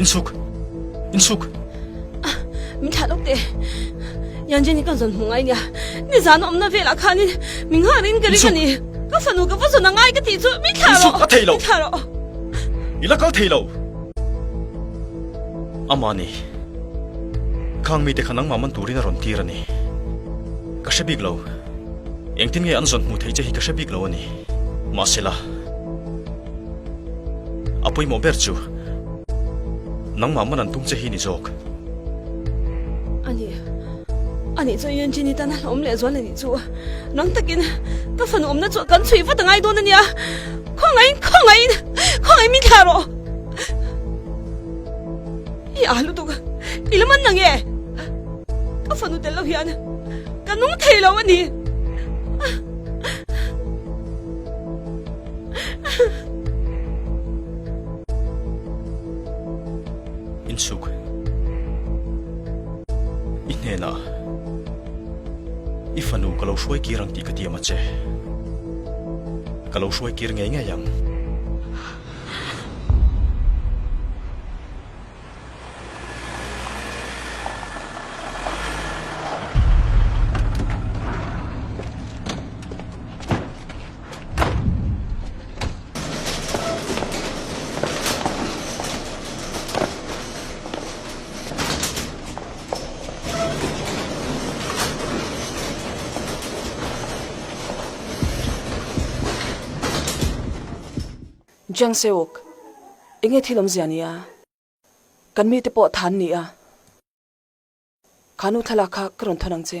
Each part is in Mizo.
Insuk. Insuk. Ah, min tha lok te. Yan jeni kan zon hungai nia. Ni zan om na ve la khani. Min ha rin ka ri ka ni. Ka fanu ka fazon angai ka ti chu min tha lo. Insuk, a thei lo. Min tha lo. I la kal thei lo! Amah ni, khang mite kha nangmah man turin a rawn tir a ni. Ka hre bik lo. Engtin nge an zawn hmuh theih che hi ka hre bik lo a ni. Mahsela, a pawimawh ber chu nangmah man an tum che hi ni zawk. A ni. A nih chu i entin i tan a hlawm leh zual a nih chu. Nang takin ka fanu awmna chu kan chhuih vat a ngai dawn a nia. Khawngahin, khawngahin, khawngahin min thlah rawh. I a lutuk a, i lam an la nge. Ka fanu tel lo hian ka nung thei lo a ni. Insuk i hnenah i fanu ka lo hruai kir ang tih ka ti a ma che. Ka lo hruai kir ngei ngei ang. Jiang Seok, I nge thil awm zia ni a? Kan mite pawh tha an ni a. Kha nu thlalak kha ka rawn thawn ang che.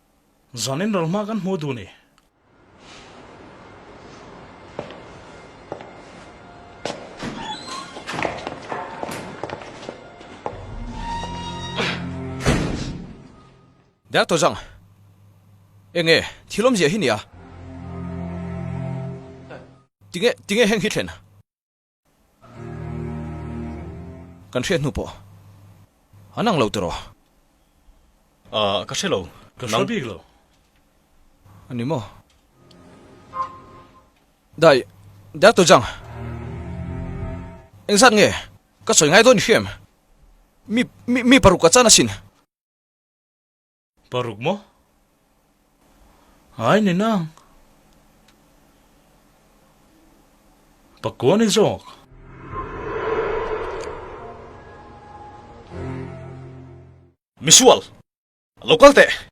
Zan in ral hma kan hmu duh ni. Doctor Zhang, Enge thil awm ziah hi nia? Tinge, tinge heng hi thlen? Kan hriat hnu pawh an ang lo tiraw? Ahh, ka hre lo. Ka hre bik lo. A ni maw? Dai, Dad tawh chang. Engzat nge ka sawi ngai dawn i hria em? Mi, mi, mi paruk a chan asin. Paruk maw? Ai ni nang. Pakua ni zawk. Misual! Lo kal teh!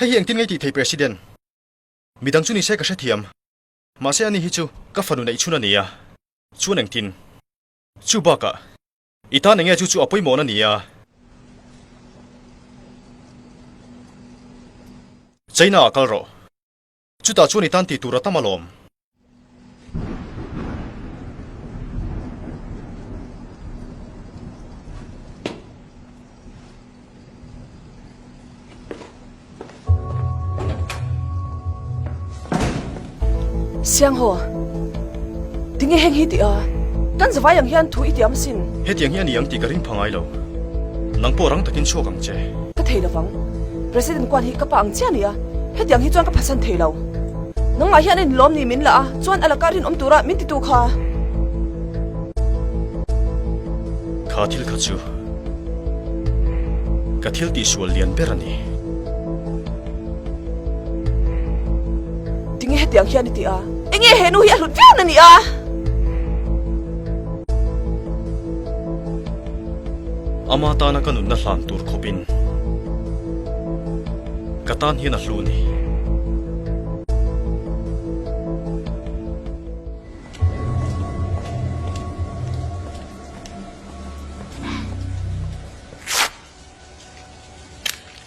Hei hi engtin ngai tih thei President? Midang chu ni se ka hrethiam. Mahse ani hi chu ka fanu neihchhun a nia. Chuan engtin? Chu bakah i tan enge chu chu a pawimawhna a nia. China ah kal rawh. Chutah chuan i tan tih tur a tam alawm. Sianghaw, tinge heng hi tih a? Kan zavai ang hian thu i ti am sin. Hetiang hi a ni ang tih ka ring pha ngai lo. Nang pawh rang takin chhuak ang che. Ka thei lovang. President kuan hi ka pa ang chiah nia, hetiang hi chuan ka phasan thei lo. Nangmah hian in lawm ni min la a, chuan a lakah rinawm tura min titu kha. Kha thil kha chu ka thil tih sual lian ber a ni. Tinge hetiang hian i ti a, enge he nu hi a hlut viau na nih a? Ama tana ka nunna hlan tur khawpin ka tan hian a hlu ni.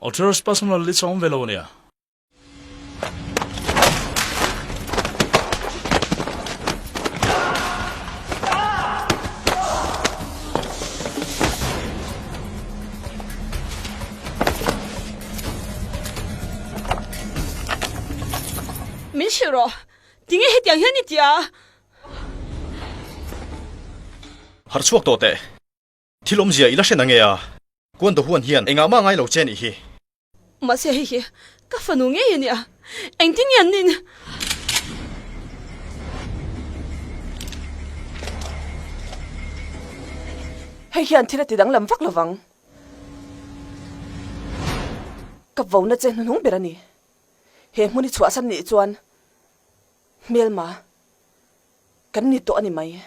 Authors personal list a awm ve lo nia. Min hrilh rawh. Tinge hetiang hian i ti a? Harchhuak tawh teh. Thil awmzia i la hre na nge a? Kuanda huan hian engah mah ngai lo che nih hi? Mahse hei hi ka fanu ngei a nia, engtin nge an nih nia? Hei hian thil a ti danglam vak lovang. Ka vona che hnuhnung ber a ni. He hmun hi chhuahsan nih chuan. hmel ma kan ni tawh ani mai.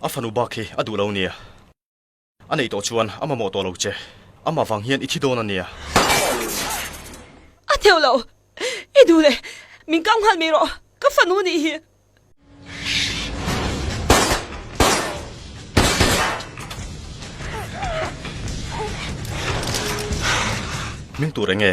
A fanu bak hi a duh lo nia. A nei tawh chuan a mamawh tawh lo che. Amah vang hian i thi dawn a nia. A theuh lo. I duh le. Min kau nghal mai rawh. Ka fanu nih hi. Hming tur eng nge?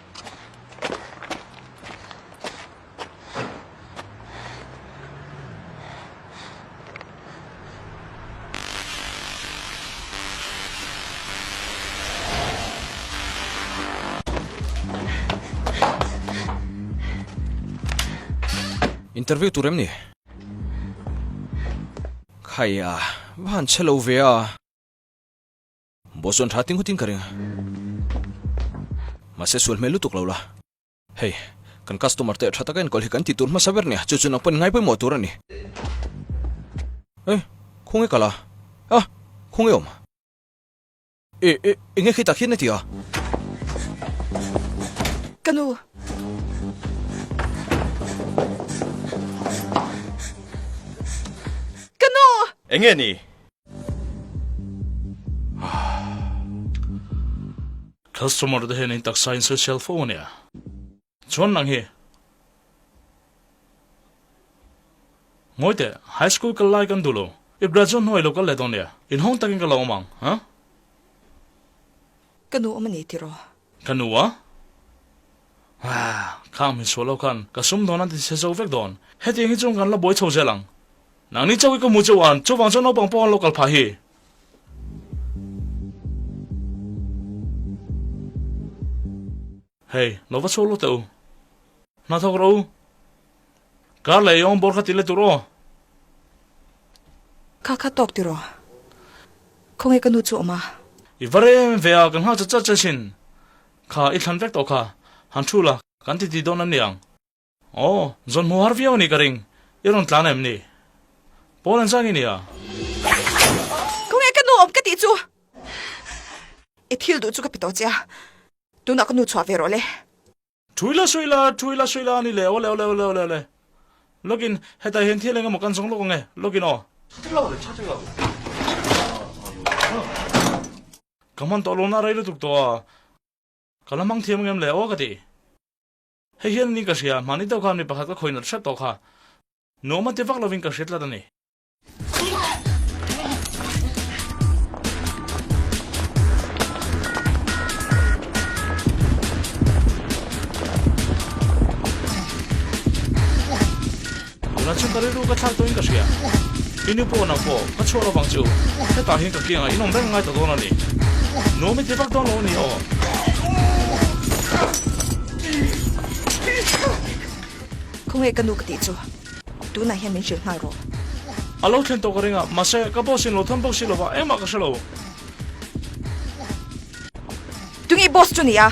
interview tur em ni khai a van chhe lo ve a Boss chuan tha tinghut in ka ring a, mahse sual hmel lutuk lo la. Hei, kan customer te tha taka enkawl hi kan tihtur hmasa ber nia, chu chu nang pawh ni ngai pawimawh tur a ni. Eh, khung e kal a, a, khung e awm. E, e, enge khi tak hian a ti a? Ka nu. Ka nu! Enge a ni? Customer te hian in taksa in sel sial fo a nia. Chuan nang hi. Ngawi teh, high school kal lai kan duh lo. I graduate hnuai lo kal leh dawn nia. In hawng takin ka lo awm ang, huh? Ka nu awm a ni tiraw? Ka nu a. Haa, khang min suah lo khan ka sum dawn an ti se zo vek dawn. Hetiang hi chuan kan la buai chho zel ang. Nang ni chauh i ka hmu chauh an, chuvang chuan naupang pawh an lo kal phah hi. Hei, lo va chhuak lo teh u. Hna thawk rawh u. Kar leh i awm bawr kha ti let u rawh. Kha kha tawk ti rawh. Khawnge ka nu chu a awm a. I va rem em ve a, ka nghak chat chat che sin. Kha i thlan vek tawh kha han thu la kan titi dawn an ni ang. Aw, zawn hmu har viau a nih ka ring, i rawn tlan em ni? Pawl en zang i ni a? Khaw nge ka nu awm ka tih chu? I thil duh chu ka pe tawh che a, tunah ka nu chhuah ve rawh le. Thui la suih la, thui la suih la a ni le, awle awle awle awle. Log in, hetah hian thil engemaw kan zawng lawk ang e, log in aw. Ka hman tawh lawmna a rei lutuk tawh a, ka la hmang thiam ngem le aw ka ti. Hei hian ni ka hria, hman i deuh khan mi pakhat ka khawinat hrep tawh kha, nuama ti vak lovin ka hria tlat a ni. Tunah chuan ka rilru ka thlak tawngin ka hria. I nu pawh nang pawh ka chhuah lovang chu hetah hian ka kiangah in awm reng ngai ta dawn a ni. Nuam i ti vak dawn lo a ni aw. Khaw nge ka nu ka tih chu? Tunah hian min hrilh nghal rawh. A lo thlen tawh ka ring a, mahse ka boss in lo thawn bawk si lo va, engmah ka hre lo. Tunge boss chu nia?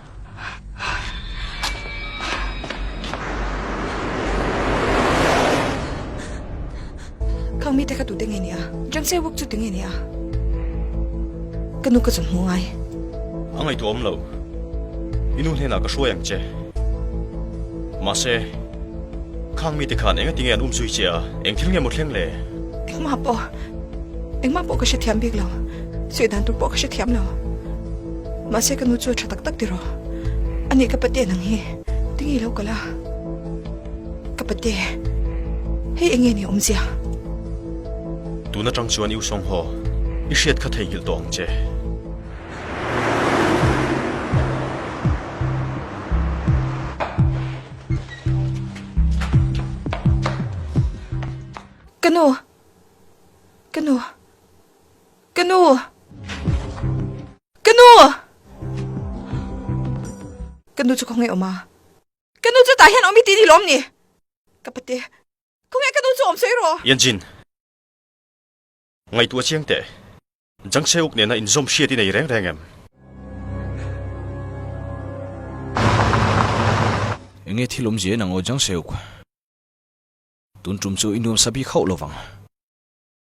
Khang mi te kha tu te nge ni a? Jang se wuk chu ti nge ni a? Ka nu ka chun hmu ngai. A ngai tu om lo. I nu hnena ka hruai ang che. Mahse, Khang mi te khan eng a ti nge an um zui che a? Eng thil nge maw thleng le? Engmah pawh, engmah pawh ka hrethiam bik lo. Suih dan tur pawh ka hrethiam lo. Mahse ka nu chu a tha tak tak tiraw? A nih ka pate nang hi tinge i lo kal a? Ka pate, hei enge nih a awm zia? Tun atang chuan i usawng haw, i hriat kha theihngilh tawh ang che. Ka nu! Ka nu! Ka nu! Ka nu! Ka nu chu khaw nge awm a? Ka nu chu tah hian awm i ti dihlawm ni? Ka pate, khaw nge ka nu chu awm sawi rawh. Yanjin, ngaihtuah chiang teh, Jang Seuk nena inzawm hriat i nei reng reng em? Enge thil awmzia in ang aw Jang Seuk? Tun tum chu i nuamsa bik hauh lovang.